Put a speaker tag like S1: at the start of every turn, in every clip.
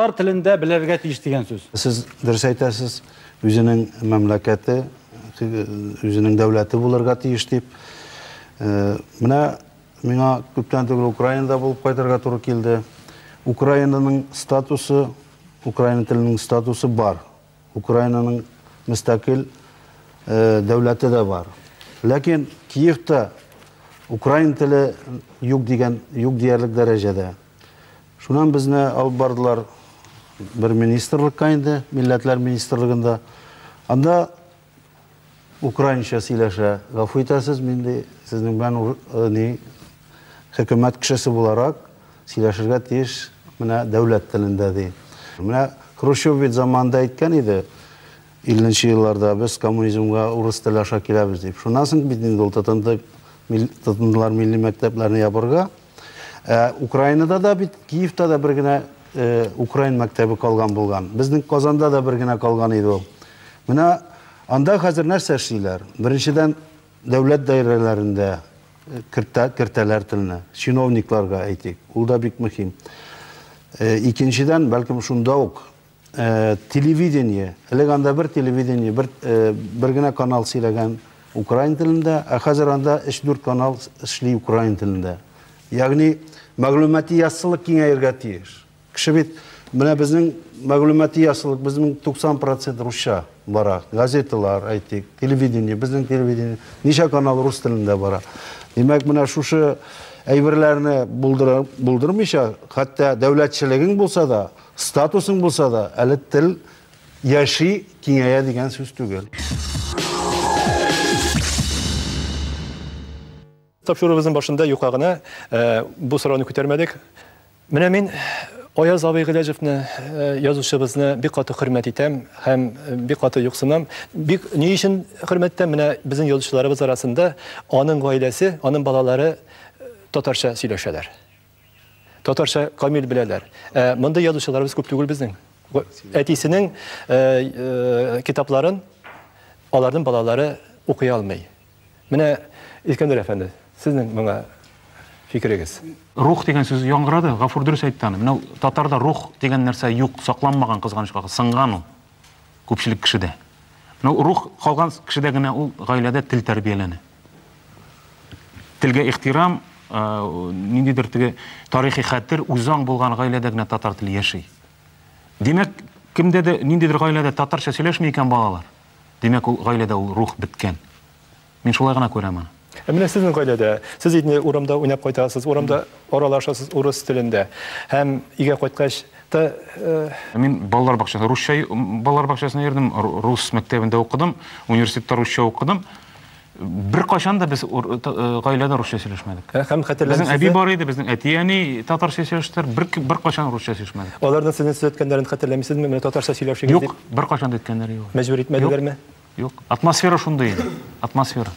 S1: Татар телендә белергә тиеш дигән сүз. Сез дөрес әйтәсез, үзенең мәмләкәте, үзенең дәүләте булырга тиеш дип. Менә миңа күптән түгел Украинада булып кайтырга туры килде. Украинаның статусы, украин теленең статусы бар. Украинаның мөстәкыйль дәүләте дә бар. Ләкин Киевта украин теле юк дигән, юк диярлек дәрәҗәдә. Шуннан безне алып бардылар бер министрлыкка инде, милләтләр министрлыгында. Анда украинча сөйләшә. Гафу итәсез, мин ди, сезнең белән э, ни хөкүмәт кешесе буларак сөйләшергә тиеш менә дәүләт телендә ди. Менә Хрущев бит заманында әйткән иде, 50 елларда без коммунизмга урыс теле аша киләбез дип. Шуннан соң бит инде ул тотынды, тотындылар милли мәктәпләрне ябырга. Ә Украинада да бит, Киевта да бер генә э, Украин мәктәбе калган булган. Безнең Казанда да бер генә калган иде ул. Менә анда хәзер нәрсә эшлиләр? Беренчедән, дәүләт даирәләрендә э, кертә, кертәләр телне, чиновникларга әйтик. Ул да бик мөһим. Э, Икенчедән, бәлкем шунда ук Телевидение, элек анда бер телевидение, бер, бер генә канал сөйләгән украин телендә, ә хәзер анда 3-4 канал эшли украин телендә. Ягъни мәгълүмати яссылык киңәергә тиеш. Кеше бит, менә безнең мәгълүмати яссылык, безнең 90% русча бара. Газеталар, әйтик, телевидение, безнең телевидение, ничә канал рус телендә бара. Димәк, менә шушы әйберләрне булдырмыйча, хәтта дәүләтчелегең булса да, Статусың булса да, әле тел яши, киңәя дигән сүз түгел. Тапшыруыбызның башында юка гына бу сорауны күтәрмәдек. Менә мин Аяз абый Гыйләҗевне, язучыбызны бик каты хөрмәт итәм һәм бик каты юксынам. Бик ни өчен хөрмәт итәм? Менә безнең язучыларыбыз арасында аның гаиләсе, аның балалары татарча сөйләшәләр. Татарча камил беләләр. Ә мондый язучыларыбыз күп түгел безнең. Әтисенең э, э, китапларын аларның балалары укый алмый. Менә Искәндәр әфәнде, сезнең моңа фикерегез? Рух дигән сүз яңгырады, Гафур дөрес әйтте аны. Менә татарда рух дигән нәрсә юк, сакланмаган кызганычка, сынган ул. Күпчелек кешедә. Менә рух калган кешедә генә ул гаиләдә тел тәрбияләнә. Телгә ихтирам, ниндидер теге тарихи хәтер, үзаң булган гаиләдә генә татар теле яши. Димәк, кемдә дә, ниндидер гаиләдә татарча сөйләшми икән балалар, димәк, ул гаиләдә ул рух беткән. Мин шулай гына күрәм аны. Ә менә сезнең гаиләдә, сез инде урамда уйнап кайтасыз, урамда аралашасыз урыс телендә һәм өйгә кайткач та. Мин балалар бакчасына, русча балалар бакчасына йөрдем, рус мәктәбендә укыдым, университетта русча укыдым. Беркайчан да без гаиләдә русча сөйләшмәдек. Һәм хәтерләмисез? Безнең әби бар иде, безнең әти-әни татарча сөйләштеләр, бер беркайчан русча сөйләшмәдек. Аларның сезне сөйләткәннәрен хәтерләмисезме? Менә татарча сөйләшегез дип. Юк, беркайчан да әйткәннәре юк. Мәҗбүр итмәделәрме? Юк, атмосфера шундый иде. Атмосфера.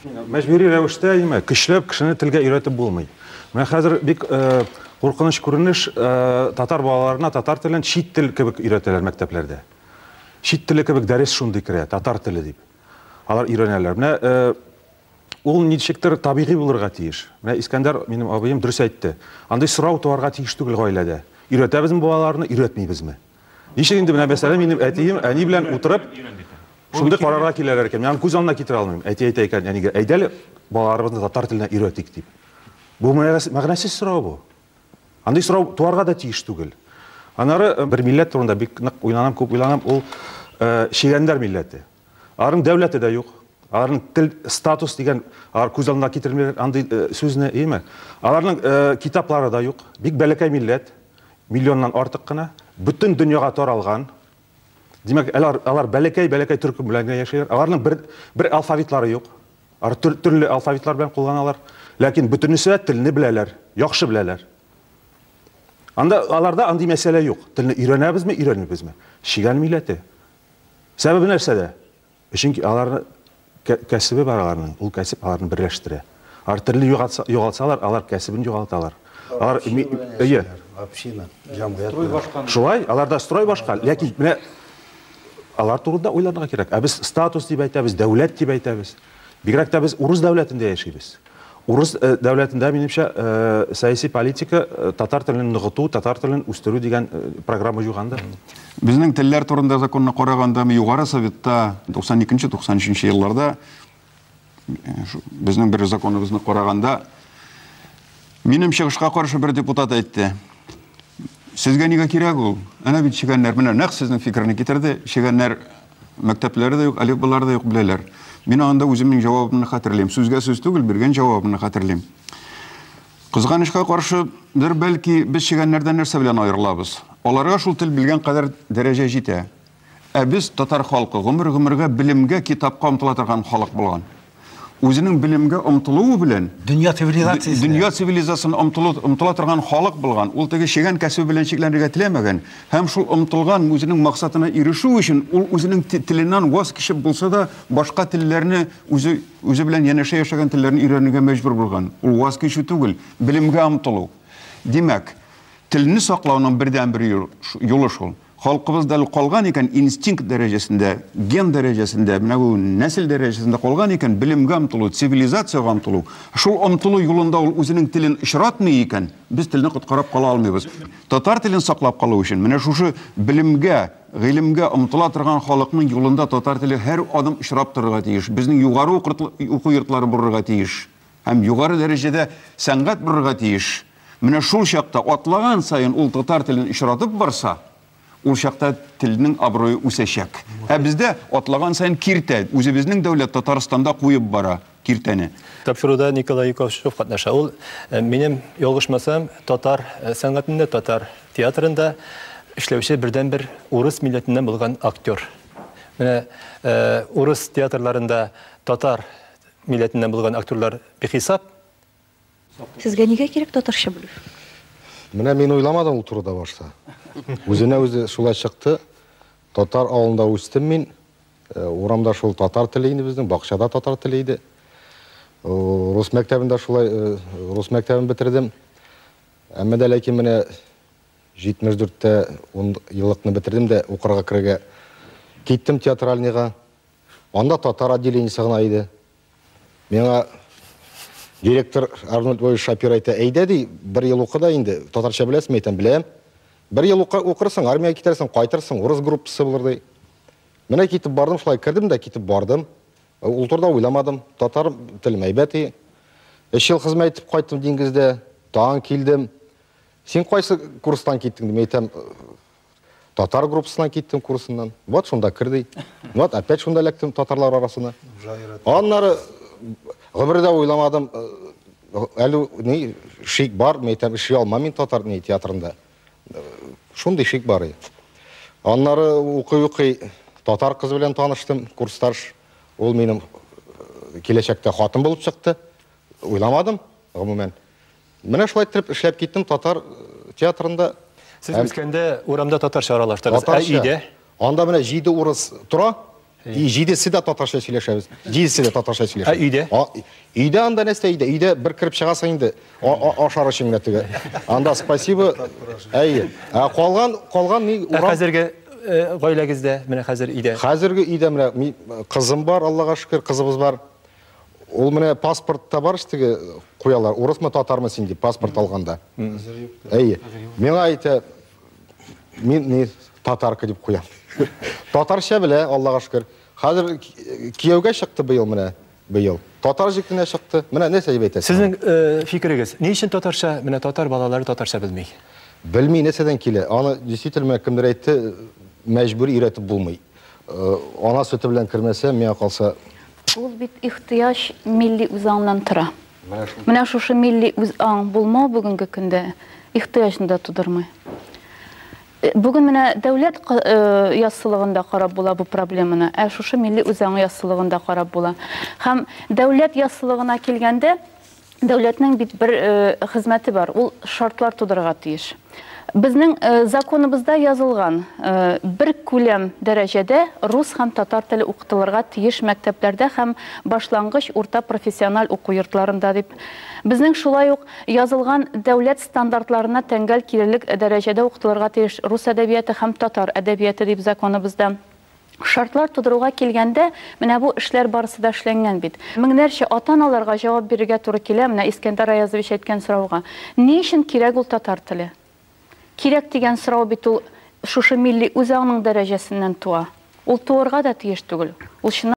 S1: Мәҗбүри рәвештә нимә, көчләп кешене телгә өйрәтеп булмый. Менә хәзер бик э, куркыныч күренеш э, татар балаларына татар телен чит тел кебек өйрәтәләр мәктәпләрдә. Чит теле кебек дәрес шундый керә, татар теле дип. Алар өйрәнәләр. Менә э, ул ничектер табигый булырга тиеш. Менә Искәндәр, минем абыем дөрес әйтте. Андый сорау туарга тиеш түгел гаиләдә. Өйрәтәбезме балаларны, өйрәтмибезме? Ничек инде менә мәсәлән минем әтием әни белән утырып шундый карарга киләләр икән. Мин күз алдына китерә алмыйм. Әти әйтә икән әнигә, әйдәле балаларыбызны татар теленә өйрәтик дип. Бу мәгънәсез сорау бу. Андый сорау туарга да тиеш түгел. Анары э, бер милләт турында бик нык уйланам, күп уйланам, ул э, чегәннәр милләте. Аларның дәүләте дә юк. Аларның тел статус дигән алар күз алдына китермиләр андый э, сүзне, яме. Аларның китаплары да юк. Бик бәләкәй милләт. Миллионнан артык кына, бөтен дөньяга таралган. Димәк, алар, алар бәләкәй-бәләкәй төркем белән генә яшиләр. Аларның бер, бер алфавитлары юк. Алар төр, төрле алфавитлар белән кулланалар. Ләкин бөтенесе дә телне беләләр, яхшы беләләр. Анда, аларда андый мәсьәлә юк. Телне өйрәнәбезме, өйрәнмибезме? Чигән милләте. Сәбәбе нәрсәдә? Чөнки аларны кәсебе бар аларның, ул кәсеп аларны берләштерә. Алар төрле югалсалар, алар кәсебен югалталар. Алар әйе. Община, җәмгыять. Строй башкан. Шулай, аларда строй башка, ләкин менә алар турында уйларга кирәк. Ә без статус дип әйтәбез, дәүләт дип әйтәбез. Бигрәк тә без урыс дәүләтендә яшибез. Урыс э, дәүләтендә, минемчә, э, сәяси политика э, татар телен ныгыту, татар телен үстерү дигән программа юганды. Безнең телләр турында законны караганда, Югары Советта 92-93 елларда безнең бер законыбызны караганда, минем чыгышка каршы бер депутат әйтте, Сезгә нигә кирәк ул? Әнә бит чегәннәр, менә нәкъ сезнең фикерне китерде, чегәннәр Мәктәпләре дә юк, әлифбалары да юк, беләләр. Мин анда үземнең җавабымны хәтерлим. Сүзгә сүз түгел, биргән җавабымны хәтерлим. Кызганычка каршы, бер бәлки без чегәннәрдән нәрсә белән аерылабыз? Аларга шул тел белгән кадәр дәрәҗә җитә. Ә без, татар халкы, гомер-гомергә белемгә, китапка омтыла торган халык булган. Үзенең белемгә омтылуы белән дөнья цивилизациясенә дөнья цивилизациясенә омтылу омтыла торган халык булган. Ул теге чегән кәсебе белән чикләнергә теләмәгән һәм шул омтылган үзенең максатына ирешү өчен ул үзенең теленнән ваз кичеп булса да башка телләрне үзе үзе белән янәшә яшәгән телләрне өйрәнергә мәҗбүр булган. Ул ваз кичү түгел, белемгә омтылу. Димәк, телне саклауның бердәнбер юлы шул. Халкыбызда калган икән, инстинкт дәрәҗәсендә, ген дәрәҗәсендә, менә бу нәсел дәрәҗәсендә калган икән, белемгә омтылу, цивилизациягә омтылу. Шул омтылу юлында ул үзенең телен очратмый икән, без телне коткарап кала алмыйбыз. Татар телен саклап калу өчен, менә шушы белемгә, гыйлемгә омтыла торган халыкның юлында татар теле һәр адым очрап торырга тиеш. Безнең югары уку йортлары булырга тиеш. Һәм югары дәрәҗәдә сәнгать булырга тиеш. Менә шул чакта, атлаган саен ул татар телен очратып барса, ул чакта телнең абруе үсәчәк. Ә бездә атлаган саен киртә, үзебезнең дәүләт Татарстанда куеп бара киртәне. Тапшыруда Николай Юковшев катнаша. Ул, минем ялгышмасам, татар сәнгатендә, татар театрында эшләүче бердәнбер урыс милләтеннән булган актер. Менә урыс театрларында татар милләтеннән булган актерлар бихисап. Сезгә нигә кирәк татарча белү? Менә мин уйламадым ул турыда башта. Үзенә үзе шулай чыкты. Татар авылында үстем мин. Э, урамда шул татар теле инде безнең, бакчада татар теле иде. Рус мәктәбендә шулай э, рус мәктәбен бетердем. Әмма дә ләкин менә 74-тә 10 еллыкны бетердем дә укырга керергә киттем театральныйга. Анда татар отделениесе гына иде. Миңа директор Арнольд Львович Шапир әйтә, әйдә ди, бер ел укы да инде, татарча беләсеңме? Әйтәм, беләм. Бер ел укырсың, армиягә китәрсең, кайтырсың, урыс группасы булыр ди. Менә китеп бардым, шулай кердем дә китеп бардым. Ул турыда уйламадым. Татар телем әйбәт и. Өч ел хезмәт итеп кайттым диңгездә, тагын килдем. Син кайсы курстан киттең, дим, әйтәм, Татар группасына киттем курсыннан. Вот шунда керди. Вот опять шунда эләктем татарлар арасына. Аннары гомердә уйламадым, әле ни шик бар, мин әйтәм, эшли алмам мин татар ни театрында. Шундый шик бар иде. Аннары укый-укый татар кыз белән таныштым, курсташ. Ул минем киләчәктә хатын булып чыкты. Уйламадым, гомумән. Менә шулай иттереп эшләп киттем татар э, театрында. Сез Әм... үскәндә урамда татарча аралаштыгыз, ә татарча. өйдә? Анда менә җиде урыс тора, и җидесе дә татарча сөйләшәбез. Җидесе дә татарча сөйләшә. Ә өйдә? А, өйдә анда нәрсә өйдә? Өйдә бер кереп чыгасың инде. А, а, ашар өчен генә теге. Анда спасибо. Әйе. Ә калган калган ни Ә урам хәзерге э, гаиләгездә, менә хәзер өйдә? Хәзерге өйдә менә ми- кызым бар, Аллага шөкер, кызыбыз бар. Ул менә паспортта бар штеге куялар, урысмы, татармы син дип паспорт алганда. Әйе. Миңа әйтә, мин не татарка дип куям. Татарча белә, Аллага шөкер. Хәзер кияүгә чыкты быел менә, быел. Татар җегетенә чыкты. Менә нәрсә дип әйтәсең? Сезнең э, фикерегез, ни өчен татарча, менә татар балалары татарча белми? Белми нәрсәдән килә. Аны действительно кемдер әйтте, мәҗбүр өйрәтеп булмый. Э, ана сөте белән кермәсә, миңа калса... Ул бит ихтыяҗ милли үзаңнан тора. Менә шушы милли үзаң булмау бүгенге көндә ихтыяҗны да тудырмый. Э, бүген менә дәүләт э, яссылыгында карап була бу проблеманы, ә шушы милли үзаңы яссылыгында карап була. Һәм дәүләт яссылыгына килгәндә, Дәүләтнең бит бер э, хезмәте бар, ул шартлар тудырырга тиеш. Безнең э, законыбызда язылган э, бер күләм дәрәҗәдә рус һәм татар теле укытылырга тиеш мәктәпләрдә һәм башлангыч урта профессиональ уку йортларында дип. Безнең шулай ук язылган дәүләт стандартларына тәңгәл килерлек дәрәҗәдә укытылырга тиеш рус әдәбияты һәм татар әдәбияты дип законыбызда. Шартлар тудыруга килгәндә, менә бу эшләр барысы да эшләнгән бит. Меңнәрчә ата-аналарга җавап бирергә туры килә менә Искәндәр Аязович әйткән сорауга. Ни өчен кирәк ул татар теле? Кирәк дигән сорау бит ул шушы милли үзаңның дәрәҗәсеннән туа. Ул туырга да тиеш түгел. Ул чыннан.